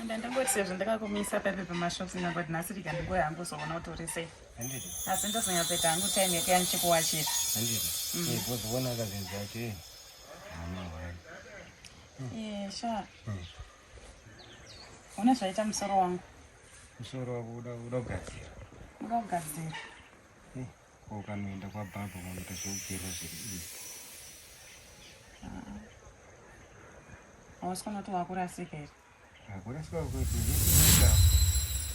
Enda ndingoti sezvo ndakakumisa pepe pamashops ina but nhasi rika ndingoya hangu uzoona kuti uri sei. Handiti. Asi ndozonyatsoita hangu time yekuya ndichikuwachira. Handiti. Mm. Eh, kuzoona akazinzi yacho eh. Mama wani. Eh, sha. Mm. Una zvaita musoro wangu. Musoro wako uda uda kugadzira. Uda kugadzira. Eh. ukanoenda kwabhabha unoita zvekugera zviri izvi hausi kunoti wakurasika here akurasika kuti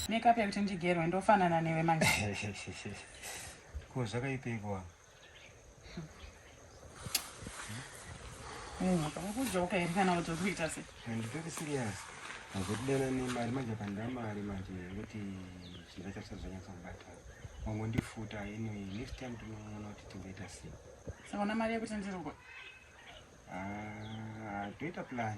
makeup yekuti ndigerwe ndofanana newe manje ko zvakaipeikoa Ukakujoka here kana kuti kuita se? Handitoki serious. Hazotidana nemari manje pandira mari manje yekuti chinhu chacho zvanyatsa kubata. Wangondifuta anyway next time tinoona kuti tingaita sei. Saka una mari yekutenderwa? Ah, toita plan.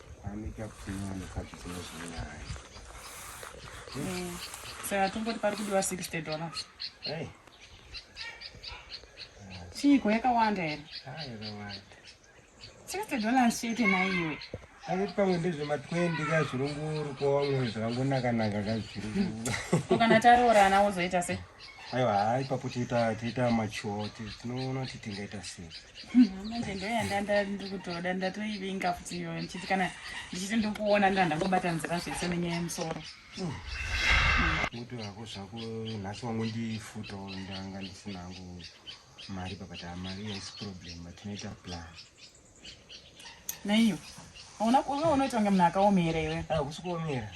Anika kunyanya mukadzi dzinozinaye. Eh, saka tomboti pari kudiwa 60 dollar. Hey. Chiiko yakawanda here? Ah, yakawanda. 60 dollars chete naiwe. Asi pamwe ndezvema 20 ka zvirunguru kwawamwe zvakangonaka naka ka zvirunguru. Kana taroorana wozoita sei? Aiwa, ipapo tiita tiita mature tinoona kuti tingaita sei. manje ndoyanda ndikutoda ndatoivinga futi iyoyo ndichiti kana ndichiti ndikuona ndo ndangobatanzira zvese nenyaya yemusoro muto yako zvako nhasi wangu ndifuto ndanga ndisina hangu mari papata mari yaisi problem but tinoita plan Neiyo. Ona kuona unoita kunge munhu akaomera iwe. Ah, kusi kuomera.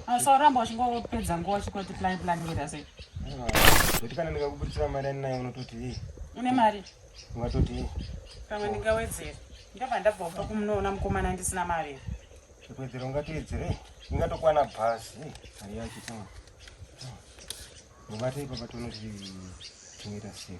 Ah, so ramba uchingopedza nguva uchingoti plan plan ngeta sei. Ah, kuti kana ndikakubudzira mari anayo unototi hii. Une mari? Ungatoti hii. Pamwe ndingawedzera. Ndabva ndabva upa kumunoona mukomana ndisina mari. Chikuwedzera ungatoedzere. Ingatokwana bhazi. Mari yacho tama. Mubate ipapo tonoti tinoita sei.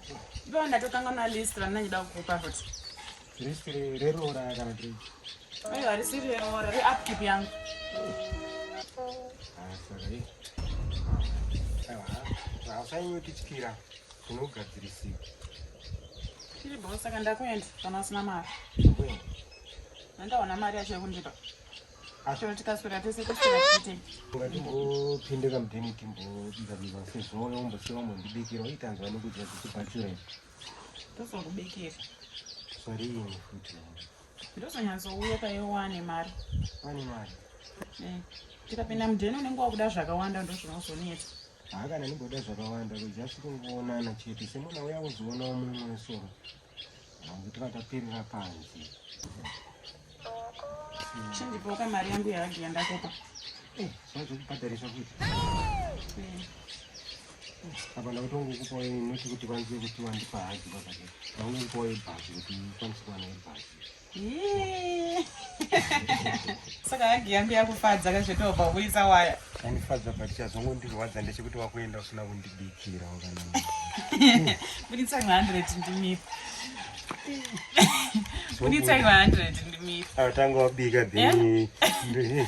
Ndipo ndatotanga na list randina ndida kukupa futi. List reroora kana kuti. Ayo harisi reroora re upkeep yangu. Ah, sorry. Ah, Hausanyukityira unogadzirisika. Tiri bho saka ndakuenda kana usina mari. Ndakuenda. Ndaona mari yacho yekundipa. Ashora tikaswera tese kuswera tite. Ngatingopinde kamudheni timbobika bika sezvo wombosewa wambondibikira waitanzwa nekudya dzichibhachura izi. Tozongubikira. Zvarini futi. Ndozonyatsouya paye wane mari. Wane mari. Eh, tikapinda mudheni unenge wakuda zvakawanda ndozvinozonetsa. Haa kana ndimboda zvakawanda kujasi kungoonana chete semwana uya kuzoonawo mumwe soro. Ndakapirira panzi. Chindipoka mari yangu yahagi yandakupa. Eh, zvacho kubhadharisa futi. Eh. Apa ndakutongo kupawo inoti kuti kwanzi kuti wandipa hagi baba. Ndakutongo kupawo ibhazi kuti kwanzi kuwana ibhazi. saka hagi yangu yakufadza kazvitobva kuisa waya andifadza but chazongondirwadza ndechekuti wakuenda usina kundibikira buditsa 100 ndimiri buditsa 100 ndimiri atanga wabika then eh?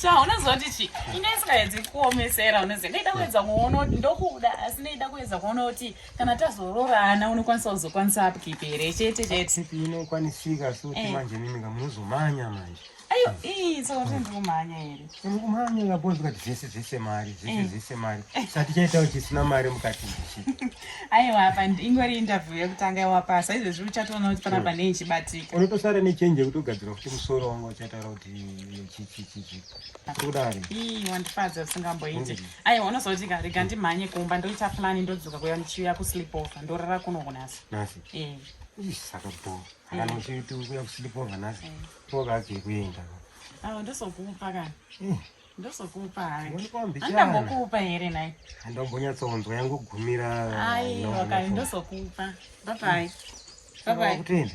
sha unoziva kuti chi inga isikaedzi kuomesera unoziva ndaida kuedza kuona kuti ndokuda asi ndaida kuedza kuona kuti kana tazoroorana unokwanisa kuzokwanisa upkeepe here chete chete inokwanisika sokuti eh. manje mimika munozomanya manje ayo ii so kuti ndikumhanya here ndikumhanya ngabonzi kati zvese zvese mari zvese eh. zvese mari eh. satichaitawo chisina mari mukati ndichi aiwa apa ingori interview yekutanga yawapasa izvezvi uchatoona kuti panapa nei chibatika unotosara nechenje yekutogadzirwa kuti musoro wanga uchataura kuti chichichichi kudari ii wandifadza usingamboiti mm. aiwa unozoti ka rega ndimhanye kumba ndoita plani ndodzoka kuya ndichiuya kusleep over ndorara kuno kunasi nasi e saka bo akanochiti mm. kuya kusleep over nasi mm. pokabve kuenda awa ndozokupa kana mm. ndozokupa handambokupa here nai handombonyatsonzwa yangogumira aiwa kai ndozokupa babai babai kutenda